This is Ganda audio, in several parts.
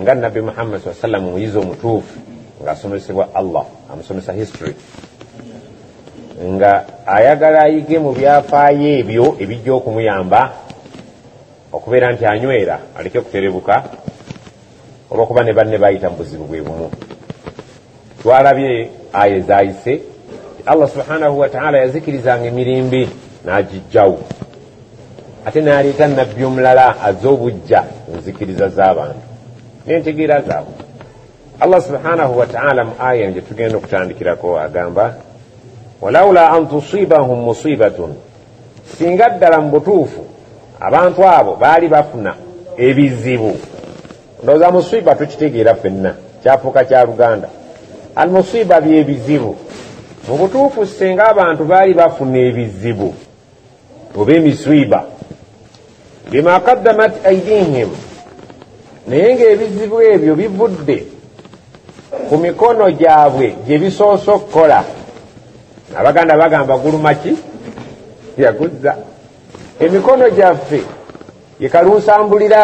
nga nabbi muhammad saa sallam omuyizi omutuufu ng'asomesebwa allah amusomesa history nga ayagala ayige mu byafaayo ebyo ebijja okumuyamba okubeera nti anywera aleke okuterebuka olwokuba ne banne bayita mu buzibu bwe bumu twalabye aya ezayise allah subhanahu wataala yazikirizanga emirimbi nagijjawo ate naleeta nabbi omulala aze obujja enzikiriza z'abantu nentegeera zaabwe allah subhanahu wataala mu aya nje tugenda okutandikirako agamba walaula an tusibahum musibatun singa ddala mu butuufu abantu abo baali bafuna ebizibu ndoza musiba tukitegeera fenna kyafuuka kya luganda al musiba byebizibu mu butuufu senga abantu baali bafuna ebizibu oba emisiba bima kaddamat aidihim naye ngaebizibu ebyo bivudde ku mikono gyabwe gye bisoose okukola abaganda bagamba gulumaki yaguzza emikono gyaffe ye kalunsambulira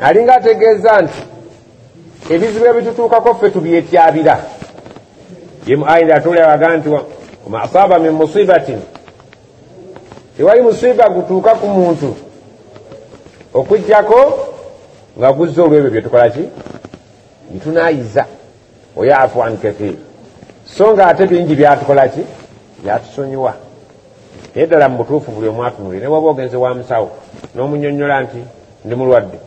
alinga ategeeza nti ebizibu ebitutuukako ffe tubyetyabira ye mu ayira atulewaga nti wama asaba min musibatin tewali musiba gutuuka ku muntu okujjako nga guzza olwebyo byetukola ki ntunayiza oyo afuan kathir so nga ate bingi byatukola ki byatusonyiwa naye ddala mu butuufu buli omu atunulire ne waba ogenze wa musawo n'omunyonnyola nti ndi mulwadde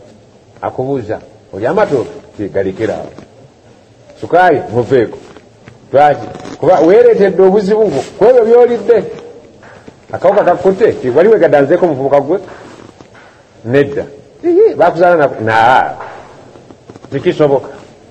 akubuuza oli amatooke tegalekera awo sukaali muveeko lwaki kuba weereetedde obuzibu bwo ku ebyo by'olidde akawuka kakutte wali wegadanzeeko omuvubuka gwe nedda bakuzaala naa tekisoboka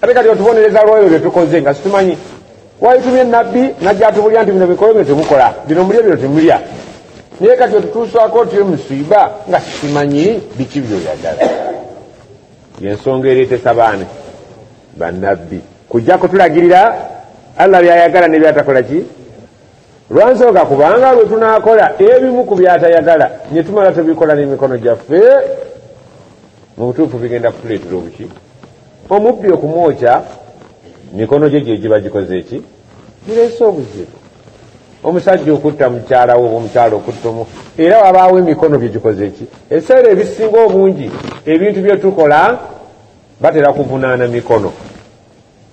ate kati otubonereza lwoyo byetukoze nga situmanyi waitumye nabbi najja atubulya nti bino bikoyo bino temukola bino mulya bino temulya naye kati otutuusaako otiyo musiiba nga simanyi biki byoyagala yensonga ereetesa baane banabbi kujja kutulagirira allah byayagala nebyatakola ki Lwansooka kubanga lwe tunaakola ebimu ku by'atayagala ne tumala tubikola n'emikono gyaffe, mu butuufu bigenda kutuleetera obuki? Omubbi okumwokya, mikono gye gye giba gikoze ki? Gireese obuzibu. Omusajja okutta mukyala we oba omukyala okutta omu, era wabaawo emikono bye gikoze ki? Ebiseera ebisinga obungi ebintu bye tukola batera kuvunaana mikono.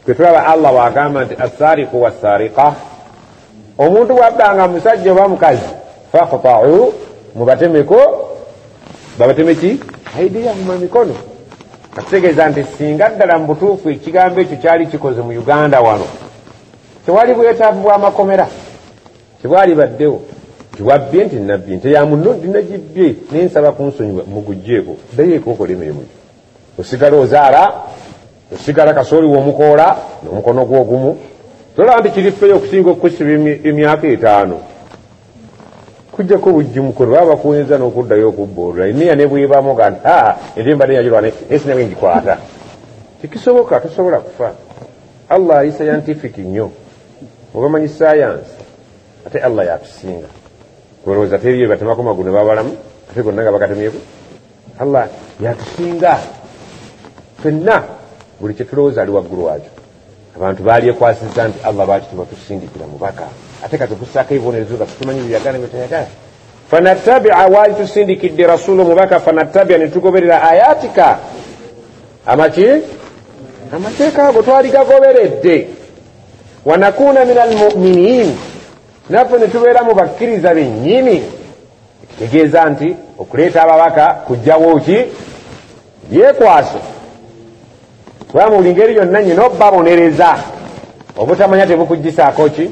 Kwetulaba Allah wagamba nti asariku wasariqa omuntu bwabbanga musajja oba mukazi fakutau mubatemeko babatemeki aidiyahuma mikono akitegeeza nti singa ddala mu butuufu ekigambo ekyo kyali kikoze mu uganda wano tewali bwetaavu bwamakomera tebwali baddewo tiwabbye nti nabbi nti yamunno ndinagibbye naye nsaba kunsonyiwa mugujjeeko ddayo ekokola emirimu gyo osigala ozaala osigala kasooli w'omukoola n'omukono gwo ogumu tolaba nti kiri feyo okusinga okukusiba emyaka etaano kujjako obujjumukono baba bakuwenza n'okuddayo okubboolula emiya ne bwebamu ga nti aa eri mbadde yagirwana esi nawe ngikwata tekisoboka tosobola kufa allah ali scientific nnyo obamanyi sayansi ate allah yatusinga olowooza teriyo batemako magulu ne babalamu ate gonna nga bakatemyeku allah yatusinga fenna buli kyetulowooza ali waggulu wakyo abantu balyekwasiza nti allah lwaki tebatusindikira mubaka ate kati okusaako ebibonerezo zaffe tumanyi byeyagala byetayagala fanatabia waali tusindikidde rasulu mubaka fanatabia netugoberera ayatika amaki amateeka ago twali gagoberedde wanakuuna min almuminin naffe netubeera mu bakkiriza bennyini ekitegeeza nti okuleeta ababaka kujjawo ki byekwaso kuba mu buli ngeri yonna nyina okubabonereza obutamanya tebukugisaako ki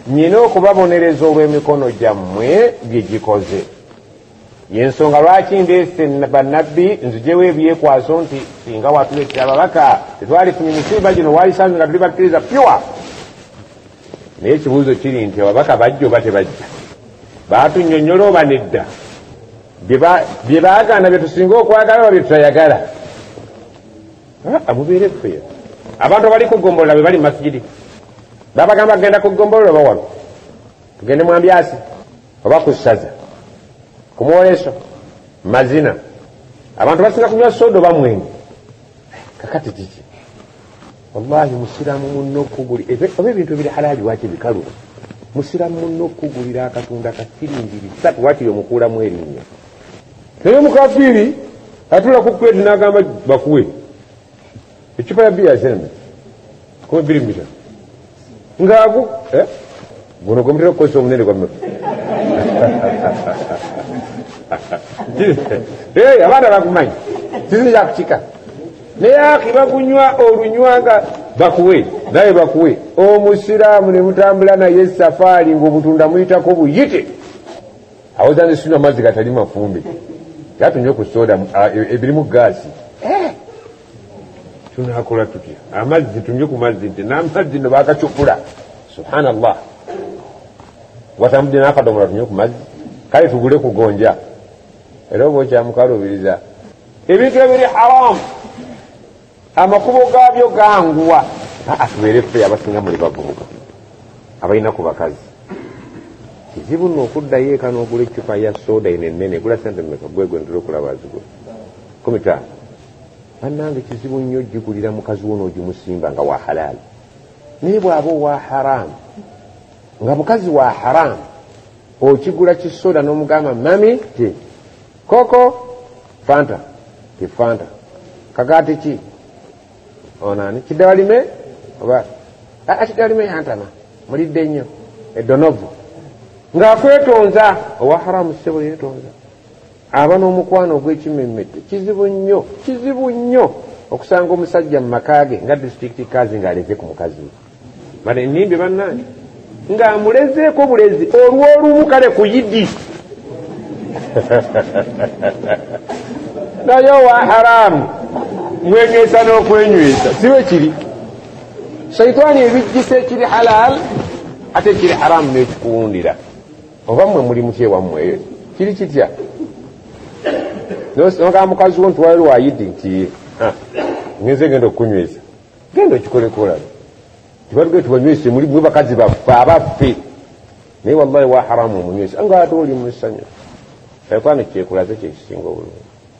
nyina okubabonereza olw'emikono gyammwe bye gikoze yensonga lwaki ndeese bannabbi nzijewo ebyekwaso nti singa watuleetera ababaka tetwalifunye misimba gino walisanze nga tuli bakkiriza pyuwa naye ekibuuzo kiri nti ababaka bajja oba tebajja batunyonyola oba nedda bye baagaana bye tusinga okwagala oba bye tutayagala amubeere ffe abantu abali ku gombolola be bali mu masigidi babagamba kugenda ku gombolola oba wano tugende mwambyasi oba ku ssaza ku mwoleso mazina abantu basinga kunywa soda oba mwenyi kakati kiki wallahi musiramu munno okuguli oba ebintu ebiri halaali waki bikalu musiramu munno okugulira akatunda kasiringi bisatu waki yomukuulamu erinnya naye omukafiiri atula ku kwedi nagamba bakuwe ecupa ya biya zena kuba biri mubitano ngaagu eh? guno gwemutera okukozesa omunene gwa mmeka eh, abaana bagumanyi sizi yakukika naye aki bagunywa olunywa nga bakuwe naye bakuwe omusiraamu ne mutambula naye safaari ngaobutunda muyitako buyite awoza nesuna amazzi gatali mafumbe yatunywe ku soda ah, e, ebirimu gaasi tunakola tutya amazzi tunywe ku mazzi nti namazzi no bakacupula subhanallah watambudde nakadomola tunywe ku mazzi kale tugule kugonja era oba okyamukaluubiriza ebintu ebiri haramu amakubo gaabyo ganguwa atubeere ffe abasinga muli bavubuka abalina ku bakazi kizibu no okuddayo eka n'ogula eccupa ya soda ino ennene gula sente meka gwegwe ntera okulaba zigula kumitano banange kizibu nnyo ojjigulira mukazi wona ogimusimba nga wa halaali naye bwaba owa haramu nga mukazi wa haramu okigula kisoda nomugamba mami ti koko fanta ti fanta kagati ki onani kidawalime oba akidawalime yantama mulidde nnyo edonovu ng'akwetonza owa haramu ssebo yetonza aba n'omukwano ogw'ekimmemmette kizibu nnyo kizibu nnyo okusanga omusajja mu maka ge nga disitulikiti kazi ng'aleze ku mukazi we bano ennimbi bannange ng'amulezeeko bulezi olw'olumu kale ku yidi naye owa haramu mwenywesa n'okwenywesa siwe kiri shaitaani ebijjisa ekiri halaal ate ekiri haramu n'ekikuwundira oba mwe muli mutya ewammwe eyo kiri kitya nogamba mukazi wo nti wali wayidi nti ah, ngenze genda okukunyweza genda okikolekolala tibatuge tibanywese muli mwe bakazi baffe abaffe naye wallahi waharamu omunywesa nga ate oli musanyu ekwano kyekulaze kyekisinga obulungi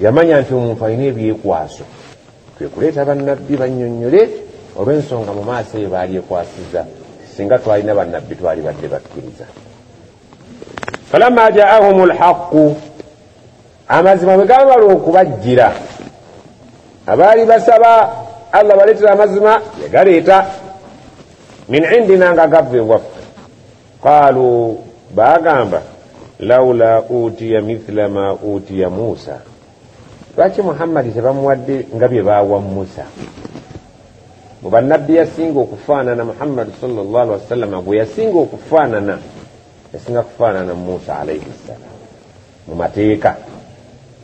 yamanya nti omuntu alina ebyekwaso kwe kuleeta bannabbi bannyonnyole olw'ensonga mu maaso eyo baali ekwasiza singa twalina bannabbi twali badde bakkiriza falamma jaahum lhaqu amazima bwe gabamala okubajjira abaali basaba allah baleetera amazima yagaleeta min indina nga gava ewaffe qaalu baagamba laula utiya mithla ma utiya muusa lwaki muhammadi tebamuwadde nga bye baawa musa mu bannabbi yasinga okufaanana muhammadi salllah alihi wasallama gwe yasinga okufaanana yasinga kufaanana musa alaihi ssalam mu mateeka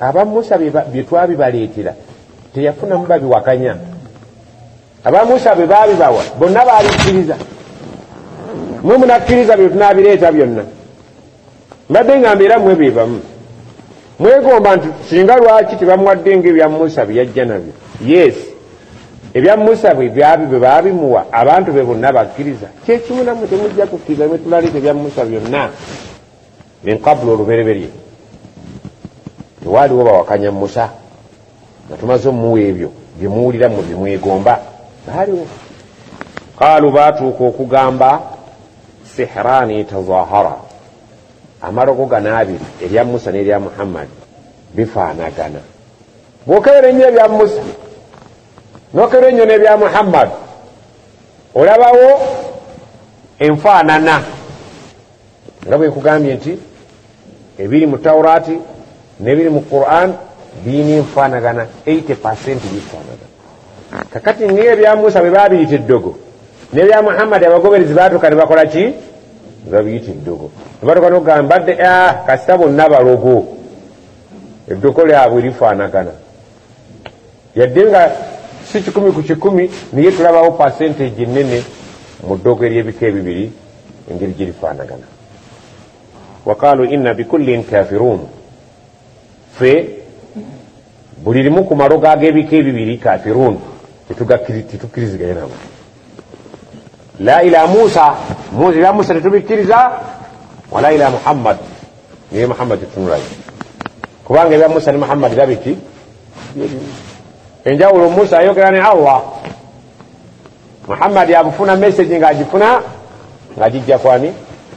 aba musa byetwabibaleetera teyafunamu babiwakanya aba musa bwe babibawa bonna babikkiriza mwe munakkiriza bye tunabireeta byonna mbadde nga mbeera mwe be bamu mwegomba nti singa lwaki tebamuwadde nga ebya musa bye yajja nabyo yes ebya musa bwe byabi bwe baabimuwa abantu be bonna bakkiriza kyekimu namwe temujja kukkiriza bwe tulaleeta ebya musa byonna min qablu olubereberye tewaaliwo bawakanya musa nga tumaze omuwa ebyo byemuwulira mu byemwegomba baaliwo qaalu baatuuka okugamba sihraani tazahara amalogo gano abiri erya musa n'erya muhammadi bifaanagana bwokebera ennyo ebya musa nokebera ennyo n'ebya muhammadi olabawo enfaanana nga bwe nkugambye nti ebiri mu taurati nebiri mu quran birina enfaanagana 80 percent bifaanagana kakati ngae ebya musa bwe babiyita eddogo nebya muhammadi abagoberezi batuuka ne bakola ki babiyita eddogo nebatuuka nokugamba dde ah, kasita bonna balogo eddogo lyabwe lifaanagana yadde nga si kikumi ku kikumi naye tulabawo pasenteji nene mu ddogo ery'ebika ebibiri engeri girifaanagana waqaalu inna bikullin kafiruun fe buli limu ku malogo ag'ebika ebibiri kafiruun tetukkiriziganye nabo la ila musa muzi ya musa tetubikkiriza wala ila muhammad naye muhammad tetunulayo kubanga ebya musa ne muhammad babiki enjawulo musa ayogera ne allah muhammad abufuna message nga agifuna nga gijja kwani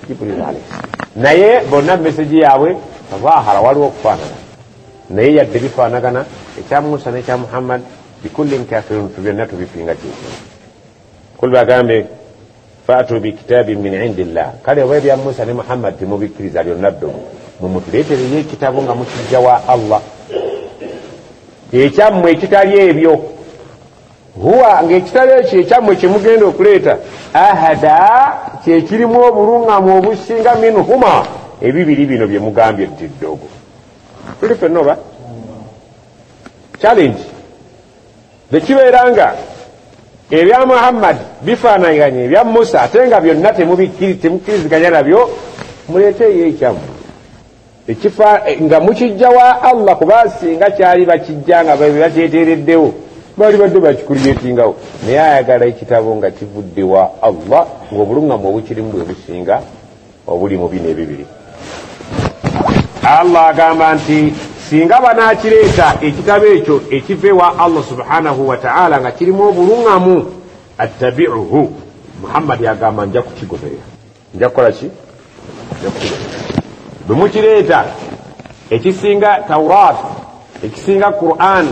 jibril alayhi naye bonna message yaabwe zahara waliwo okufaanana naye yadde bifaanagana ekya musa nekya muhammad bikullin kafirun fe byonna tubipinga kyekimu kul bagambe fatu bikitabi min indi llah kale oba ebya musa ne muhammad temubikkiriza lyonna ddomu mumutuleetereyo ekitabo nga mukijja wa allah ekyammwe ekitali ebyo huwa ngaekitabo ekyo ekyammwe kyemugenda okuleeta ahada kyekirimu obulungamu obusinga min huma ebibiri bino byemugambye ddiddogo tuli fenna oba challenge bwekibeera nga ebya muhammad bifaanaganye ebya musa ate nga byonna temukkiriziganya nabyo muleeteeyo ekyamu ekifa nga mukijja wa allah kuba singa kyali bakijja nga bebakyeteereddewo baali badde bakikulyetingawo naye ayagala ekitabo nga kivudde wa allah ng'obulungamu obukirimu bwe businga obuli mu bino ebibiri allah agamba nti singa banakireeta ekitabo ekyo ekiva ewa allah subhanahu wataala nga kirimu obuluŋamu attabiuhu muhammadi agamba nja kukigoberera nja kukola ki bwe mukireeta ekisinga taurat ekisinga quran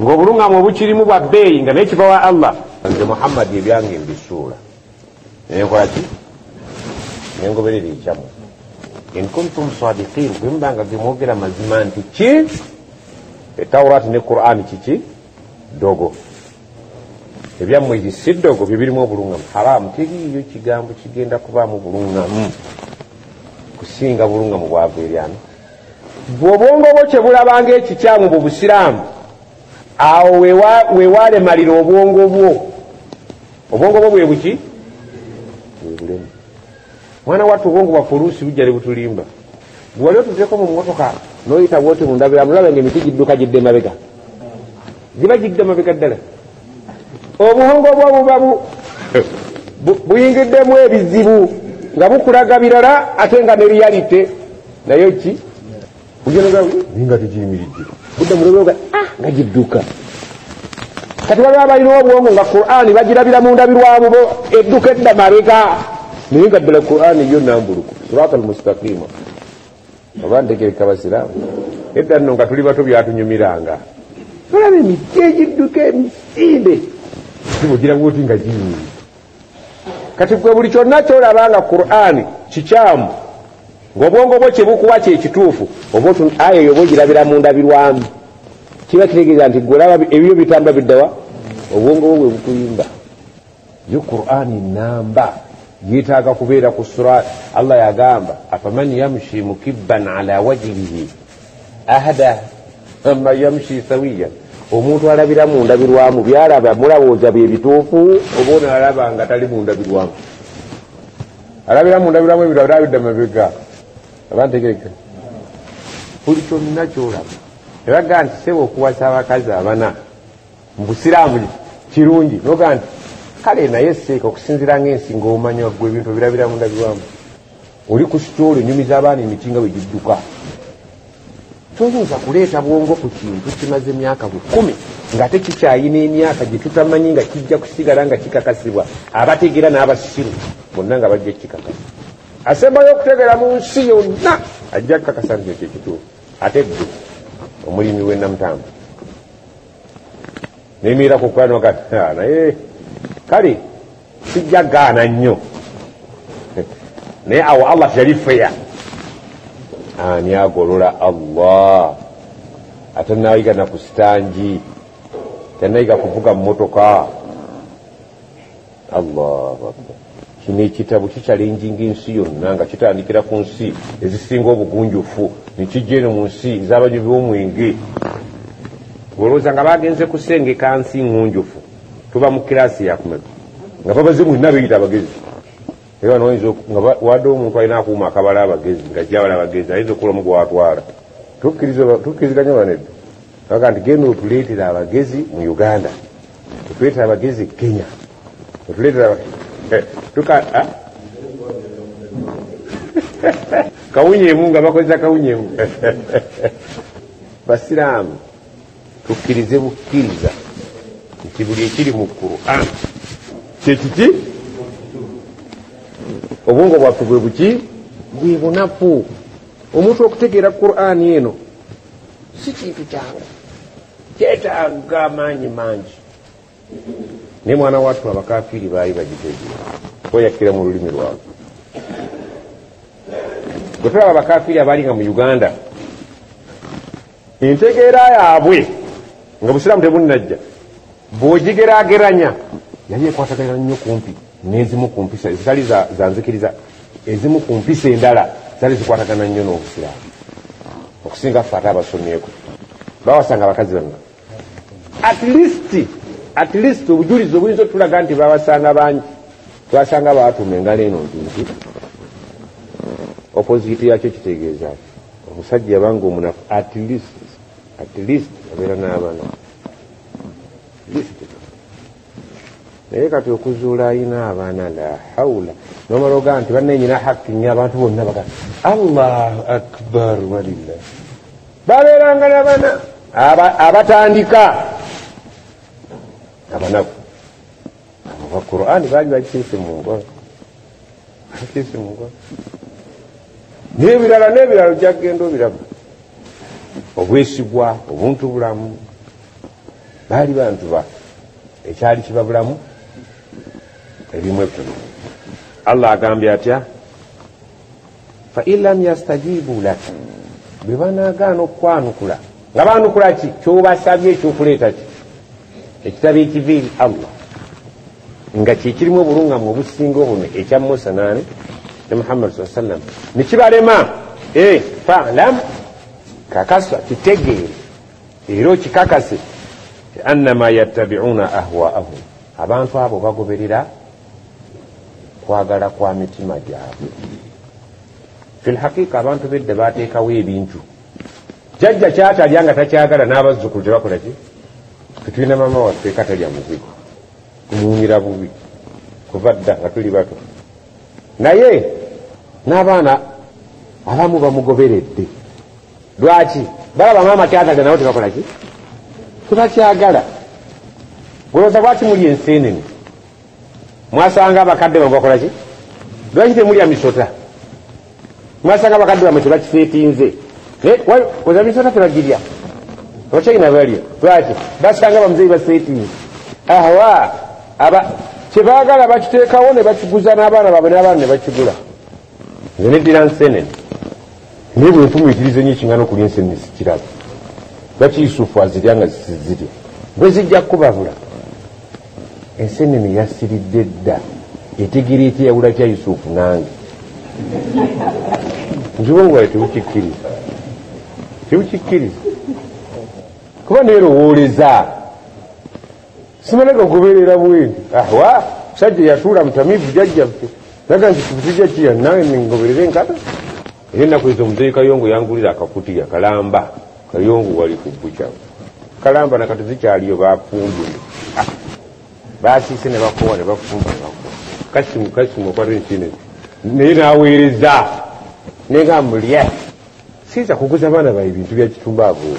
ng'obuluŋamu obukirimu bwa bbeeyi nga naye kiva wa allah nze muhammadi ebyange mbisuula nekolaki nengoberera ekyamu inkuntum sadikin bwemubanga gemwogera mazima nti ki etawurati ne qurani kiki dogo ebyammwe egi si dogo byebirimu obulungamu haramu teriiyo kigambo kigenda kubaamu bulungamu kusinga bulungamu bwava eryana bwobwongo bwo kyebulabanga ekikyamu bubusiraamu awo wewalemalira obwongo bwo obwongo bwo bwebuki bwebulemu mwana wattu obwongo bwaffe oluusi bujja ne butulimba bwewali otuzeko mu motoka noyita bwoti mundabira mulaba nga emiti gidduka gidde mabega giba gidda mabega ddala obuhongo bwo buba buyingiddemu ebizibu nga bukulaga birala ate nga ne realite nayo ki nga tegiyimiridde budda mulobeoga ah, nga gidduka kati baba balina obwongo nga qurani bagirabira mu ndabirwamu bo edduka edda mabega naye nga ddala qurani yo nambuluku surata almustaqima oba ntegereka basiraamu edda nno nga tuli bato byatunyumiranga olaba emiti egidduka emisinde gibugirawo ti nga giyimiri kati gwe buli kyonna kyolaba nga qurani kikyamu ngaobwongo bwo kyebukuwa kyekituufu oba aya eyo oba ogirabira mundabirwamu kiba kitegeeza nti gwolaba ebyo bitamba biddawa obwongo bwo bwebukuyimba yo qurani namba yetaaga kubeera ku sura allah yagamba afaman yamshi mukibban ala wajihihi ahada ama yamshi sawiya omuntu alabira mu ndabirwamu byalaba mulabooza bye bituufu oba onalaba nga tali mu ndabirwamu alabira mu ndabirwamu ebirabirabidda mabega abantegereka buli kyonna kyolaba ebaga nti seba okuwasa abakazi abana mu busiraamu kirungi noga nti kale naye seeka okusinzira ngaensi ngaomanya gwe ebintu obirabira mu ndabirwamu oli ku sitoolo enyumiza abaana emiti nga wegidduka toyinza kuleeta bwongo ku kintu kimaze emyaka bukumi ngaate kikyayina emyaka gyetutamanyi nga kijja kusigala nga kikakasibwa abategeera n'abasiru bonna nga bajja kikakasa asembayo okutegeera mu nsi yonna ajja kukakasa nti ekyo kituufu ate gge omulimi w'enamutamba nemiirako kukanoga ah, naye kale sijja gaana nnyo naye awo allah teyali feya ani agolola allah ate nayiga naku sitangi tenayiga kuvuga mumotoka allahu akbar kino ekitabo kikyalenjinga ensi yonna nga kitandikira ku nsi ezisinga obugunjufu nekijja eno mu nsi ezabanywi b'omwenge olowooza nga bagenze kusengeka nsi ngunjufu tuva mu kirasi yakumeka nga babaze mulina beyita abagezi naye bano oyinza nga wadde omuntu alina akuuma akabala abagezi nga jabala abagezi ayinza okukola omu gwatwala tukkiriziganya banedda aga nti genda otuleetera abagezi mu uganda otuleetera abagezi e kenya otuleetera eh, tuka ah? kawunyeemu nga bakozesa kawunyeemu basiraamu tukkirize bukkiriza nti buli ekiri mu quran kyekiki obwongo bwaffe bwe buki bwe bunafu omuntu okutegeera quran eno si kintu kyange kyetaaga amaanyi mangi naye mwana watu abakafiiri baali bagitege oyakkira mu lulimi lwabwe bwe tulaba abakafiiri abaali nga mu uganda entegeera yaabwe nga busiraamu tebunnajja bwogigerageranya yali ekwataganira nnyo kumpi n'ezimu ku mpisa ezitali za nzikiriza ezimu ku mpisa endala zali zikwatagana nnyo n'obusiraamu okusinga ffe ate abasomyeko bawasanga abakazi bamwe at least at least obujulizi obuyinza otulaga nti babasanga bangi twasanga baatuuma engalo eno nti nti opoziti yakyo kitegeeza ki omusajja yabanga omunafu at least at least abeera n'abana naye kati okuzuula ayina abaana la haula nomala ogaa nti bananyina haki nyo abantu bonna baga allahu akbar walillah babeeranga nabana abatandika abanaku aba qurani baali bakiise mu nkola bakiise mu nkola nebirala nebirala ojakugenda obiraba obwesigwa obuntu bulamu baali bantu ba ekyali kibabulamu ebimu ebitono allah agambye atya fain lam yastajibu lak bwe banagaana okukwanukula nga banukula ki kyobasabye ekyokuleeta ki ekitabo ekiva eri allah nga kyekirimu obulungamu obusinga obuno ekya musa nani ne muhammad saa sallam nekibalema eh, falam kakasa kitegeere era okikakase annama yattabiuna ahwaahum abantu abo bagoberera kwagala kwa mitima gyabwe fi lhaqiqa abantu bedda bateekawo ebintu jajja kyatalya nga takyagala n'abazzukulu tebakola ki tetulina maama waffe katalya muzigo kumuwunyira bubi kuva dda nga tuli bato naye n'abaana abamu bamugoberedde lwaki balaba maama kyagala nabo tebakola ki tebakyagala goloza lwaki muli ensenene mwasanga abakadde bamwe bakola ki lwaki temulya misota mwasanga abakadde bamwe tebakisetinze oza misota tebagirya okyayina balya lwaki basanga bamuzeyi basetinze ahawa aba kyebagala bakiteekawo ne bakiguza n'abaana baabwe n'abaana ne bakigula nze neddira nsenene naye bwenfumiitiriza enyo ekingana okulya ensenene sikiraba lwaki yusufu azirya nga zisizirya bwezijja kukubabula ensenene yasiridde dda etegera etya yawula tya yusufu nange nzibongowayo tebukikkiriza tebukikkiriza kuba neerowooleza simanaka okubeerera bwendi ahwa ah, musajja yatuula mutamivu jajjaffe naga nti tujja kiya nawe ngoberera enkata era ennaku ezo omuzeeyi kayongo yangulira akakutiya kalamba kayongo wali ku buca kalamba nakati zikyaliyo bafumbule ah, basiise ne bakowa ne bafumba ne bakowa kasimu kasimu okwata enkine naye naweereza naye nga mulya siyinza kuguza abaana bae bintu byakitumba aboo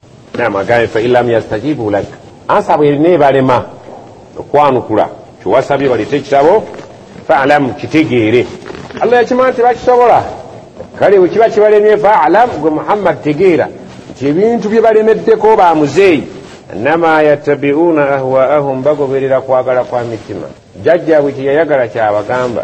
namagambye failam yastajibu lak ansa bwerina ebalema okwanukula kyewasabye balete ekitabo faalam kitegeere allah yakimaa nti bakisobola kale wekiba kibalemye faalam gwe muhammad tegeera nti ebintu bye balemeddeko ba muzeeyi nama yatabiuna ahwaahum bagoberera kwagala kwa mitima jajjabwe kyeyayagala kyabagamba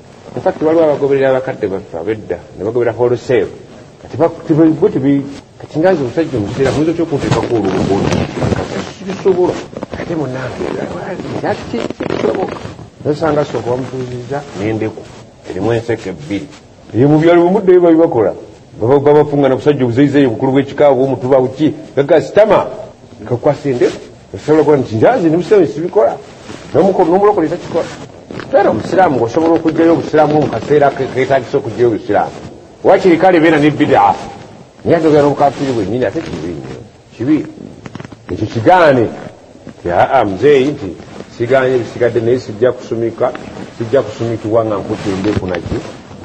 In fact waliwo abagoberera abakadde baffe abedda ne bagoberera wholesale kati bo tibi kati nga nze omusajja omuseera muyinza otya okunteekako olubugono sibisobola ate munange kisoboka nosanga sooka bamutuuzizza nendeku erimu enseke ebbiri eyo mu byalo bimuddeyo babibakola babafungana kusajja obuzeizeyo bukulu bwekikaabwe omutuba buki gaga sitama nkakwasa endeku osobola okuba nti njazi ndi musiraamu sibikola nomulokole takikola era omusiraamu ngaosobola okugjayo obusiraamu mu kaseera ketagisa okugjayo obusiraamu wakiri kale beera ne bidaa naye ate obeera nobukafiri bwenyini ate kibi nyo kibi ekyo kigaane aa muzeeyi nti siganye bisigadde naye sijja kusumika sijja kusumikibwa nga nkutte endeku naki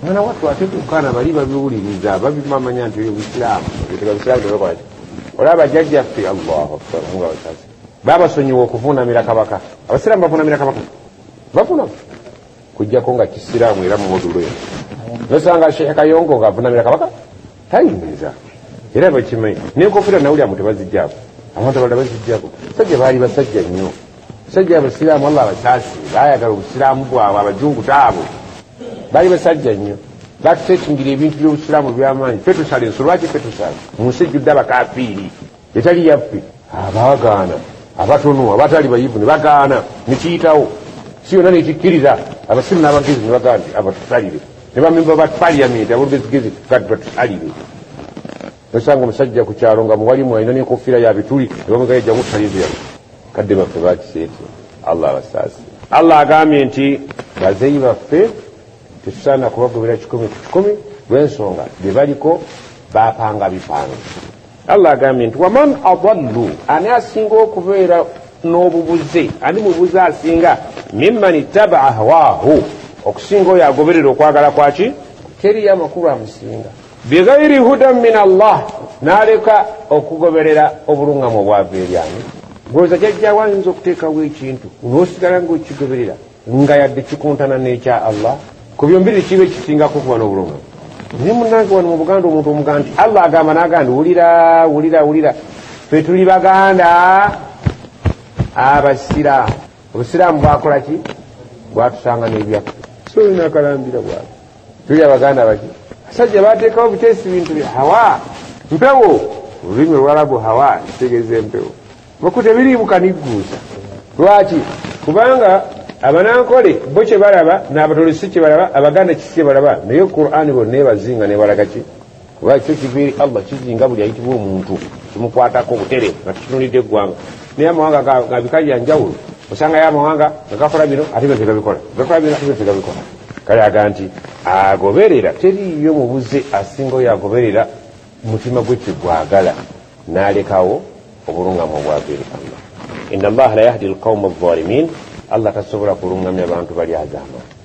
mwana wattu ate kukana bali babiwuliriza babimamanya nti oyo busiraamu ebyo tebabisiraamu tebakolaki olaba jajjaffe allahu akbar nga bakazi babasonyiwa okuvunamira kabaka abasiraamu bavunamira kabaka bavunama kujjako nga kisiraamu era mumodulo eno nosanga sheikh kayongo nga avunamira kabaka tayingiza era bakimanyi nenkofira nawulyamu tebazijjako abantu abalala bazijjako sajja baali basajja nnyo sajja abasiraamu allah abasaasi bayagala obusiraamu bwabwe abajungu taabo bali basajja nnyo batutekingira ebintu byobusiraamu byamaanyi fe tusala enso lwaki fe tusala mu nsi ejjudde abakafiiri etali yaffe abagaana abatono abatali bayivu ne bagaana nekiyitawo si yonna nekikkiriza abasiru n'abagezi ne bagaana abatusalire ne bamemba ba paliyamenti abolugezigezi gati batusalire nosanga omusajja ku kyalo nga muwalimu alina nenkofira ya bituli nebamugayajja mutalizira kadde baffe bakiseeti allah abasaasi allah agambye nti bazeyi baffe tetusaana kubagobera kikumi ku kikumi lwensonga byebaliko bapanga bipanga allah agambye nti waman adallu ani asinga okubeera n'obubuze ani mubuze asinga mimman ittabaa hawaahu okusinga oyo agoberera okwagala kwaki teriyo amakulu amusinga bighairi hudan min allah naleka okugoberera obulungamu obwava eryani goza jajjawo ayinza okuteekawo ekintu nosigala ngaokigoberera nga yadde kikuntana nekya allah ku byombiri kiba ekisingako okuba n'obulungamu naye munange wano mu buganda omuntu omugaa nti allah agamba naga ndi wulira wulira wulira fe tuli baganda abasiraamu obusiraamu bwakola ki bwatusanga n'ebyaffe so olinakalambira bwati tuli abaganda baki asajja batekawo butesi bintu bya hawa mpewo olulimi olwalabu hawa kitegeeza empewo mukute biriimu kanigguusa lwaki kubanga abanankole bo kyebalaba nabatolesi kyebalaba abaganda kisi kyebalaba naye qurani bonebazinga nebalagaki kuba ekyo kiva eri allah kizinga buli ayitibwa omuntu kimukwatako obutere nga tukitunulidde eggwanga naye amawanga gabikali yanjawulo osangayo amawanga nga gakola bino ate byote gabikola gakola bino ate byote gabikola kale aga nti agoberera teriyo mubuze asinga oyo agoberera mutima gwe kyegwagala nalekawo obulungamu obwava eri allah ina allaha la yahdi alqauma alzalimin allah tasobola kulungamya abantu bali agamba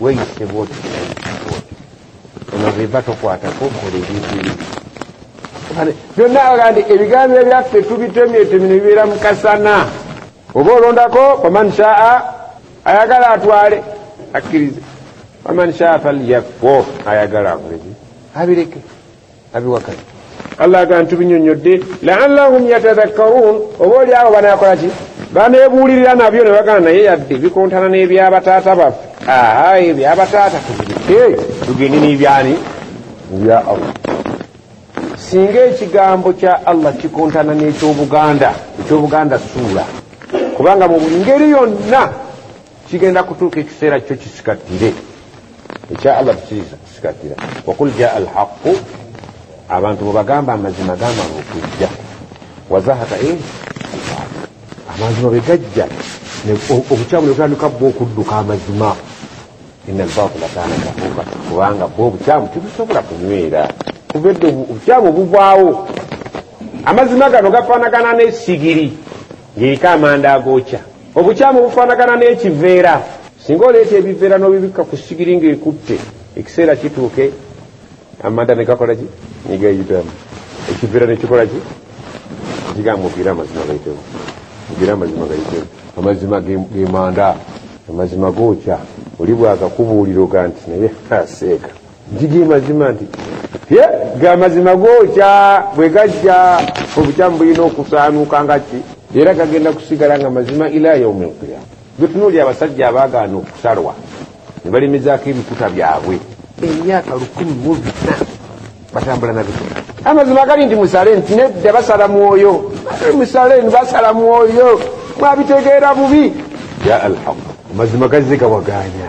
weyise bwoti ono bweva tokwatako kola ebintu byonna agandi ebigambo ebyaffe tubitemyetemi nebibeera mukasana oba olondako waman shaa ayagala atwale akkirize waman shaa falyakfo ayagala abulezi abireke abiwakanya allah aga ntubinyonyodde laallahum yatadhakkaruun oba oli awo banakola ki banebuulirira nabyo ne bagana naye yadde bikontana n'ebyabataata baffe aha ebyabataata tubireke tugende n'ebyani ebya allah singa ekigambo kya allah kikontana n'ekyobuganda ekyobuganda suula kubanga mu ngeri yonna kigenda kutuuka ekiseera kyo kisikatire ekya allah tukisikatira wakul jaa alhaqu abantu bwebagamba amazima gamala okujja wazahaka e amazima bwegajja obukyamu nebutandika bwa okudduka amazima ina albatula kana kafuuka kubanga bwa obukyamu tebusobola kunywera kuva edde obukyamu buvaawo amazima gano gafaanagana n'esigiri ng'eriko amanda agookya obukyamu bufaanagana n'ekiveera singa oleeta ebiveera n'obibikka ku sigiri ng'ekutte ekiseera kituuke amanda ne gakola ki ne gayitamu ekiveera ne kikola ki kigambo ogira amazima gayitemu ogira amazima gayitemu amazima gemanda amazima gookya oli bwagakubuuliro ga nti naye aseeka gigi mazima nti ye ga mazima gookya bwe gajja obukyamu bulina okusaanuuka nga ki era gagenda kusigala nga mazima ila yaumi lqiyama betunuuli abasajja abaagaana okusalwa ne balimizaako ebikuta byabwe emyaka lukumi mu bina batambula nabikula amazima gali nti musale nti nedda basala mwoyo musale ni basala mwoyo mwabitegeera bubi ya alhaq amazima gazze gawagaanya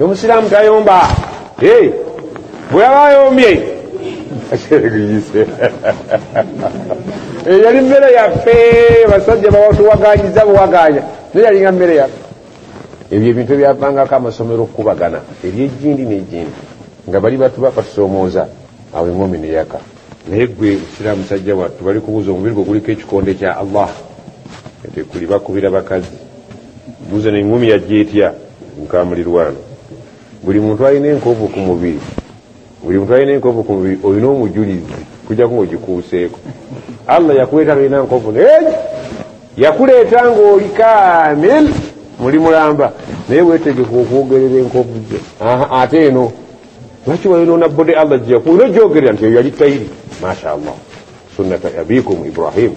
omusiraamu tayomba bweyaba ayombye eh, yali mmere yaffe basajja bawatuwaganyiza buwaganya naye yalinga mmere yaffe ebyo ebintu ebyavangako amasomero okukubagana ebyejindi nejindi nga bali batu bapatusomooza awo engomi neyaka naye gwe sira musajja wattu bali kubuuza omubiri gwe guliko ekikonde kya allah etekuli bakubira bakazi buza nengumi yajja etya mukamulirwano buli muntu alina enkovu ku mubiri buli muntu alina enkovu ku mubiri olina omujulizi kujjaku ngaogikuuseeko allah yakuleeta nolina nkovu naye yakuleeta ngaoli kamil muli mulamba naye wetegeka okwogerera enkovu ze ate eno lwaki wayonona bode allah gyeyaku olina ogyogerera nti eyo yali tayiri masha allah sunnata abikum ibrahimu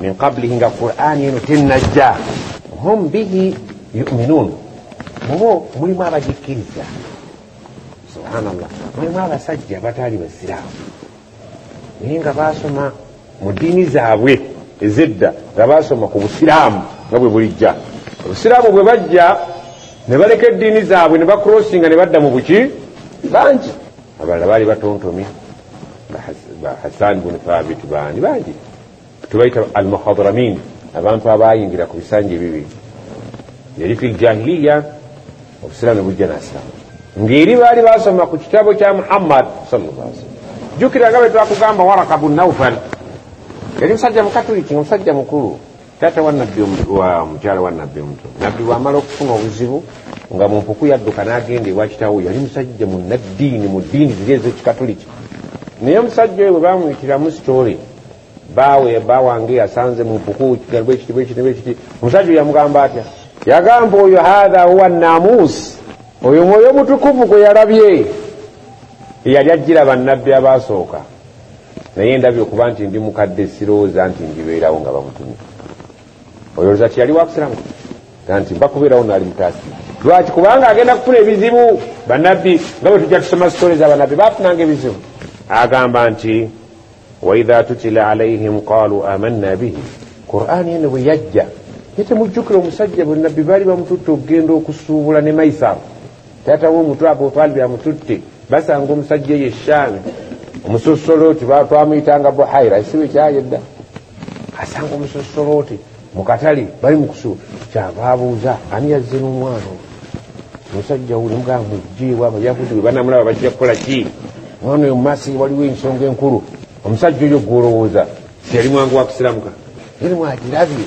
min qablihi nga qurani eno tenajja hum bihi yuminun mubo mulimu abagikkiriza subhanallah mulimu abasajja bataali basiraamu naye nga basoma mu ddiini zaabwe ezedda nga basoma ku busiraamu nga bwe bulijja obusiraamu bwe bajja ne baleka eddiini zaabwe ne bakrossinga ne badda mu buki bangi abalala baali batontomye hasani bunu thabit bani bangi tubaita almuhadramin abantu abayingira ku bisanja ebibiri yali fi ljahiliya obusiraamu nebujja nasiramu ngeri baali basoma ku kitabo kya muhammad sallam jukira nga bwetwakugamba waraka bunaufal yali musajja mukatuliki nga musajja mukulu taata wa nabbi wa mukyala wa nabbi omuto nabbi bwamala okufuna obuzibu nga mumpuku yadduka n'agenda ewa kitawo yali musajja munnaddiini mu ddiini ziri ez'ekikatuliki naye omusajja oyo bwe bamuyitiramu sitoole baawe bawange yasanze mumpuku kigalibwa ekiti bwe kiti bwe kiti omusajja oyo yamugamba atya yagamba oyo hatha huwa namuusi oyo mwoyo mutukuvu gwe yalabye eyali ajjira bannabbi abaasooka naye ndabye okuba nti ndi mukadde sirowooza nti ndibeerawo nga bamutumye oyolooza ti yali wakusiramu ga nti mba kubeerawo naali mutaasi lwaki kubanga agenda kufuna ebizibu banabbi nga bwe tujja tusoma sitole za banabbi bafunanga ebizibu agamba nti waidha tutila alaihim qalu amanna bihi qurani eno bwe yajja ye temujjukira omusajja bwenabbi baali bamututte okugenda okusuubula ne maisaro taata womutu abu talib amututte basanga omusajja eyo eshaami omusosoloti twamuyitanga buhaira esibe kyayedda asanga omusosoloti mukatale bali mukusu kyava abuuza ani yazze nomwana omusajja uli mugamba mujjeewo abayahudi webanamulaba bajja kukola ki mwana oyo mumaaso waliwo ensonga enkulu omusajja oyo gwolowooza siyali mwangu wakusiramuka eri mwagirabye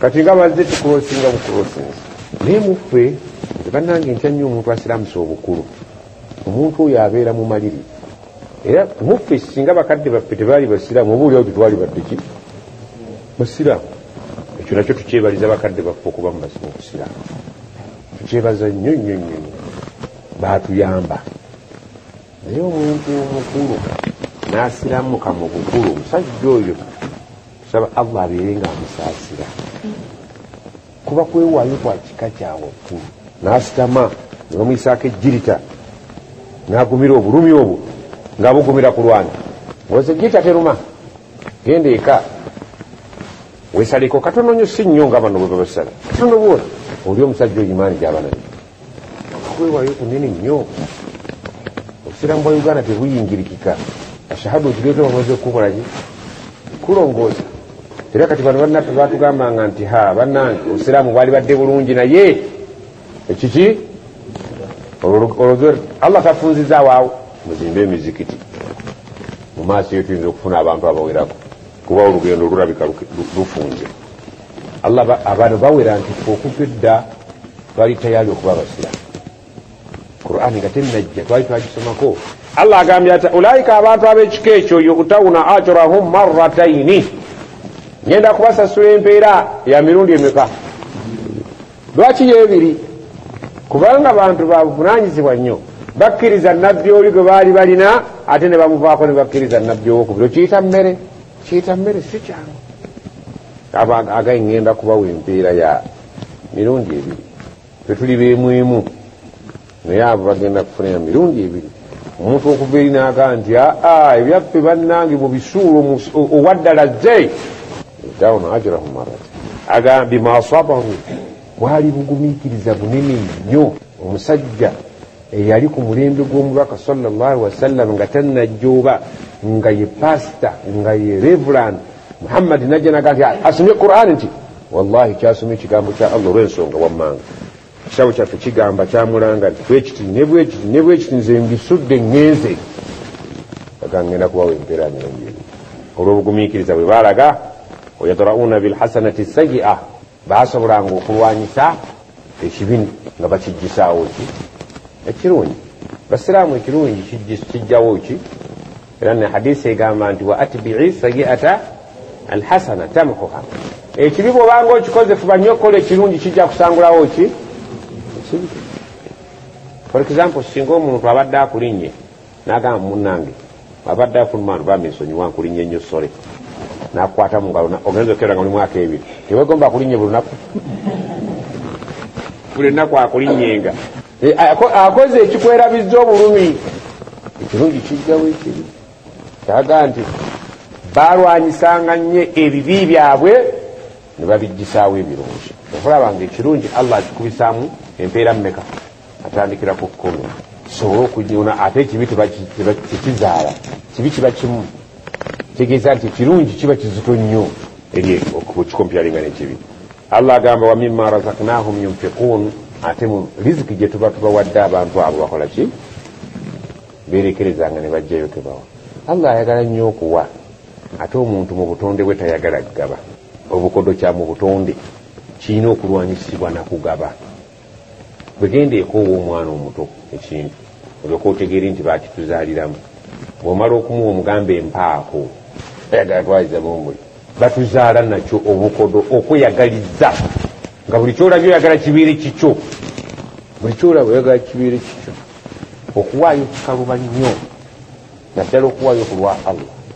kati nga bazze tukulosinga bukulosinga naye muffe banange ntya nnyo omuntu asiramusa obukulu omuntu oyo abeera mumaliri era muffe singa bakadde baffe tebaali basiraamu oba oliawo tetwali baddeki basiraamu ekyo nakyo tukyebaliza bakadde baffe okuba mubasimu obusiraamu tukyebaza nnyo nnyo nnyo nyo baatuyamba naye omuntu omukulu n'asiramuka mu bukulu omusajja oyo saba allah abeere nga amusaasira kuba kwewaayo kwa kika kyawaggulu n'asitama ne bamuyisaako ejjirita n'agumira obulumi obwo ng'abugumira ku lwani oze ejjirita teruma genda eka wesaleko katono nyo si nnyo nga bano bwe babasala katono bwona oli omusajja oyimaani gy'abaana okwewayo kunene nnyo obusiramu bwa uganda tebuyingirikika ashahadu ozireeta bamaze okukukolaki kulongoosa era kati bano bannaffe batugambanga nti ha bannange obusiraamu bwali badde bulungi naye ekiki olwo allah tafunzizaawo awo muzimbe emizikiti mu maaso eyo tuyinza okufuna abantu abawerako kuba olugendo lulabika lufunze allah abantu bawera nti fe okuva edda twali tayali okuba abasiramu quran nga tenajja twali twagisomako allah agambye ati ulaika abantu ab'ekika ekyo yutawuna ajrahum marataini ngenda kubasasula empeera ya mirundi emeka lwaki yebiri kubanga bantu babuvunanyizibwa nnyo bakkiriza nabbi oli gwe baali balina ate ne bamuvaako ne bakkiriza nabbi owokubiri okiyita mmere kiyita mmere si kyangu abantu agaye ŋŋenda kubawa empeera ya mirundi ebiri fe tuli beemu emu naye abo bagenda kufunira mirundi ebiri omuntu okuva eri naaga nti aa ebyaffe bannange mu bisuulo owaddala ze dawuno ajrahu marati agambye maasabahu bwali bugumiikiriza bunene nnyo omusajja eyali ku mulembe gw'omubaka salllah wasallam nga tannajjooba nga ye pasita nga ye reverand muhammadi najja naga nti ah, asomye quran nti wallahi kyasoma ekigambo kya allah olw'ensonga wammanga ekisabo kyaffe kigamba kyamulanga nti bwekiti nebwekiti nebwekiti nze mbisudde ngenze agangenda kubawa empeera nyonjeri olw'obugumiikiriza bwe baalaga wayadrauna bilhasanati sayia baasobolanga okulwanyisa ekibi nga bakijjisaawo ki ekirungi basiraamu ekirungi kijjawo ki era ne hadisi egamba nti wa atbii sayiata alhasana tamhuha ekibi bwobanga okikoze fuba nnyo okukola ekirungi kijja kusangulawo ki ekibi for example singa omuntu abadde akulinnye nagamba munange abadde afuluma nti bambi nsonyiwa nkulinnye nnyo sole nakwata mu ngalo ogenza okera nga oli mwaka ebiri tewegomba akulinnye buli lunaku buli lunaku akulinnyenga eh, akoze ekikwerabizza obulumi ekirungi kijjawo ekibi kyaga nti balwanyisanga nnyo ebibi byabwe ne babijjisaawo ebirungi okulaba nga ekirungi allah akikubisaamu empeera mumeka atandikira ku kkumi kisobole okunyuna ate ekibi tekizaala kibi kiba kimu tegeeza nti ekirungi kiba kizito nnyo eri okukikompyalinga nekibi allah agamba wamima razaknahum yunfikun ate mu riziki gye tuba tubawadde abantu abo bakola ki berekerezanga ne bajjayo tebawa allah ayagala nnyo okuwa ate omuntu mu butonde bwe tayagala kugaba obukodo kya mu butonde kirina okulwanyisibwa nakugaba bwegenda ekoowa omwana omuto ekintu olyoka otegeere nti bakituzaaliramu bwomala okumuwa omugamba empaako ayagala twaliza bomuli batuzaala nakyo obukodo okweyagaliza nga buli kyolabye oyagala kibeere kikyo buli kyolaba oyagala kibeere kikyo okuwaayo kikaluba nnyo naddala okuwaayo ku lwa allah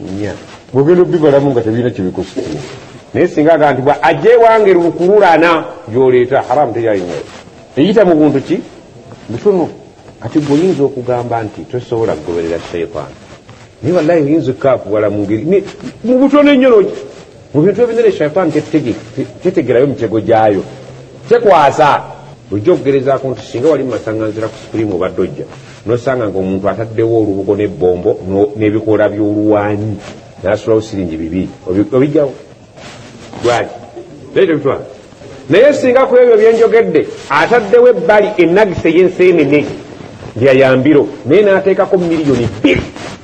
nya bwogenda obibalamu nga tebirina kyebikosa naye singa aga nti bwa ajja ewange lukululana gyoleeta haramu teyalina eyita mu buntu ki butono kati gwe oyinza okugamba nti tosobola kugoberera shaitaani naye wallahi oyinza okukaakuwala mungeri mu butono ennyo mu bintu ebinene shaitaani tetegerayo mitego gyayo tekwasa ojja okugerezaako nti singa wali mumasanganzira ku supurimu obadde ojja nosanga nga omuntu ataddewo olubugo n'ebbombo n'ebikoola by'oluwanyi nasulawo siringi bibi obijjawo lwaki naye tebitwala naye singa ku ebyo byenjogedde ataddewo ebbali enagisa ey'enseenene lyayambiro naye n'ateekako miliyoni bbiri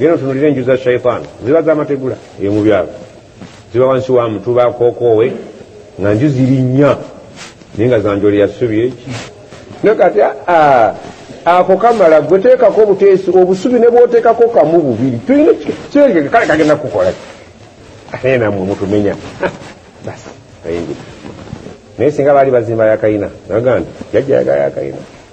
Neno tunulira enju za shaitan ziba zamategula eyo mu byalo ziba wansi wa mutu bakokowe nga nju ziri nnya naye nga zanjole yasubi eki naye kati ako kamala gwe teekako obuteesi obusubi ne bwoteekako kamu bubiri tulina kirengeke kale kagenda kukola naye namwe mutumenya basi ayingira naye singa baali bazimba yakayina naga nti jajja yagala yakayina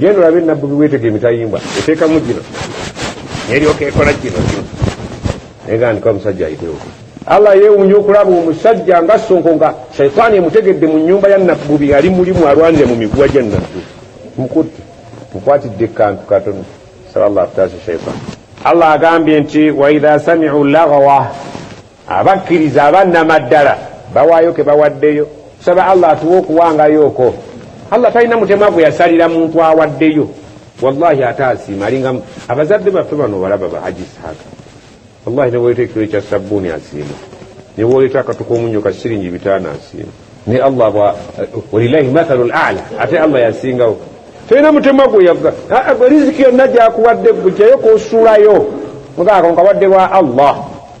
genda olabe nabbubi wetega emitayimbwa eteekamu gino neryoka ekola kino kino naye gandika omusajja ayitewo allah yewunya okulaba omusajja nga sonko nga shaitaani emutegedde mu nyumba ya nabbubi ali mulimu alwanire mu miguwa gya nabbubi mukutte mukwatidde kantu katono sala llah taasa shaitan allah agambye nti waidha samiu lagawa abakkiriza abannamaddala bawaayo ke bawaddeyo tusaba allah atuwa okuwangayo oko allah talina mutema gwe yasalira muntu awaddeyo wallahi ate asiima alinga abazadde baffe bano balaba bahaji saaka wallahi newoleeta ekiro ekya sabbuuni asiima newoleeta akatuka omunyo ka siringi bitaano asiima ne allah bwa walilahi mathalu lala ate allah yasingawo talina mutema gwe yagga riziki yonna gyakuwadde gwe jayo kosuulayo mugaako nkawadde lwa allah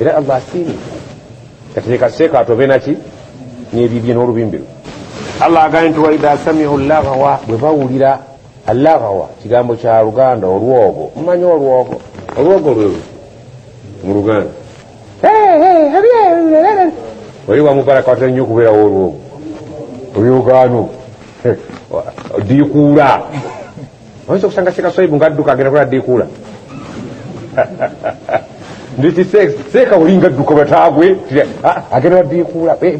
era allah asiimye kati leka seeka atobe naki nebibye n'olubimbiru allah agambye nti waidha samiu lagawa bwe bawulira alagawa kigambo kya luganda olwogo mumanyi olwogo olwogo lwe mu luganda oli wamubaraka watera nnyo okubeerawo olwogo olyogaano diikuula oyinza okusanga seeka swaibu nga adduka agenda kola dikuula nditi seeka olinga adduka batagwe ah, agenda wa dikuula eh,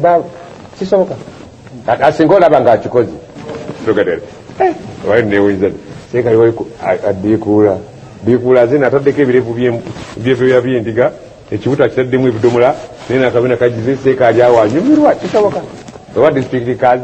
kisoboka asinga olaba nga akikoze togetera eh, wali newunyisa seeka adikuula dikuula zina ataddeko ebirevu byebyoya byendiga ekibuto akitaddemu ebidomola naye nakabina kagize seeka ali awo anyumirwa kisoboka oba disitulikiti kazi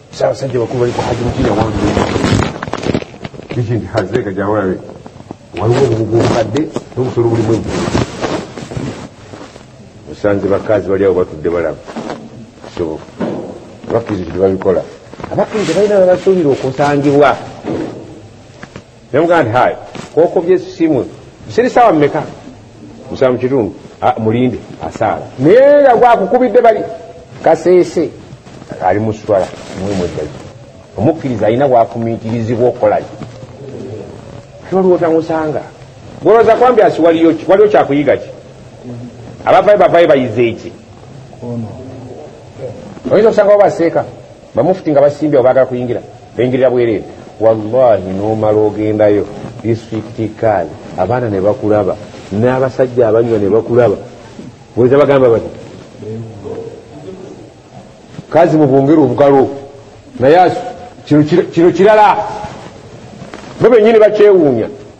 Sasajja bakulu bali ku Hajji Mukira wange kijinti hazeeka gyawalabe waliwo obubugu obukadde n'obusolo bulimu eggulu musanze bakazi bali awo batudde balaba kisoboka abakkiriza tebabikola abakkiriza balina babasuubira okusangibwa nemugaa nti hayi kokobye simu siri sawa mumeka musaa mukitundu ah, mulinde asaala naye nga gwakukubidde bali kaseese ali muswala mwemweddayo omukkiriza alina wafumiitirizibwa okukolaki waliwo tamusanga goloza kwambi asi waliwo kyakuyiga ki abavayo bavayo bayize eki oyinza okusanga wabaseeka bamufuti nga basimbye obagala kuyingira bengirira bwereere wallahi nomala ogendayo disitulikiti kaali abaana ne bakulaba n'abasajja abanywa ne bakulaba weza bagamba bati kazi mubungere obugalo naye kino kirala bo benyini bakyewuunya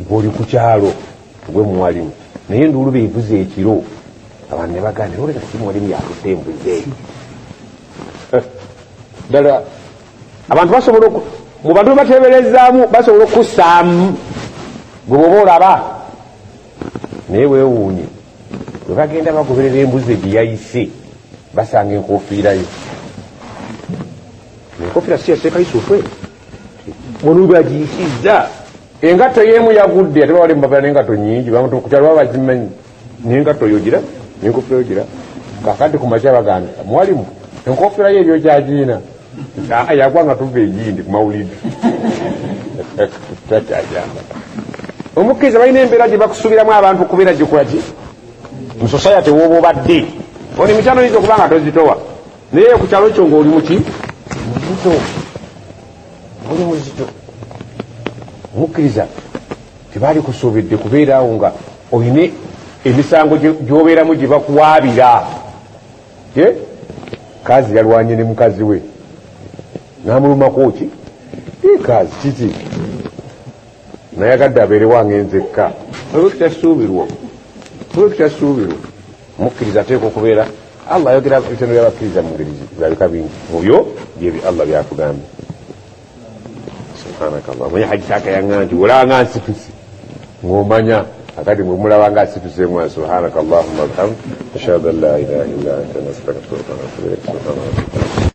ngoli ku kyalo gwe muwalimu naye nduulu bevuze ekiro abantu ne baganda oleka si muwalimu yatudde embuzi eyo eh, ddala abantu basobola mu bantu bebateberezaamu basobola okussaamu gwe bwoba olaba naye wewuunye bwe bagenda bagoberera embuzi egiyayise basanga enkofiirayo enkofiira siyaseekayisa otwe mulubagikizza engatto yemu yagudde ate bawali mubagala nengatto nyingi bamutukukyalo baba bazimanyi nengatto yogira nenkofira yogira kakati kumakya baganda mwalimu enkofira yo ebyokyagiina yagwa nga tuva egindi kumawulidi takyajamba omukkiriza balina embeera gye bakusuubiramu abantu okubeera gyekolaki mu society woba obadde ono emikyano yinza okuba nga tozitowa naye ku kyalo kyo ng'oli muki muzito oli muzito mukkiriza tebaali kusuubidde kubeeraawo nga olina emisango gy'obeeramu gye bakuwaabira ye kazi yalwanye ne mukazi we n'amulumako ki ye kazi kiki nayagadde abeerewange nzekka olwekitasuubirwa olwekitasuubirwa mukkiriza ateeka okubeera allah ayogera ebitendo byabakkiriza mu ngeri zabika bingi mubyo byebyo allah byatugambye subhanakallah manye hajitaka yanga nti olanga nsituse ngomanya akati mwemulaba nga asituse mwa subhanakallahuma bihamd ashhadu an la ilaha illa anta nastaghfiruka wa natubu ilaik subhanallah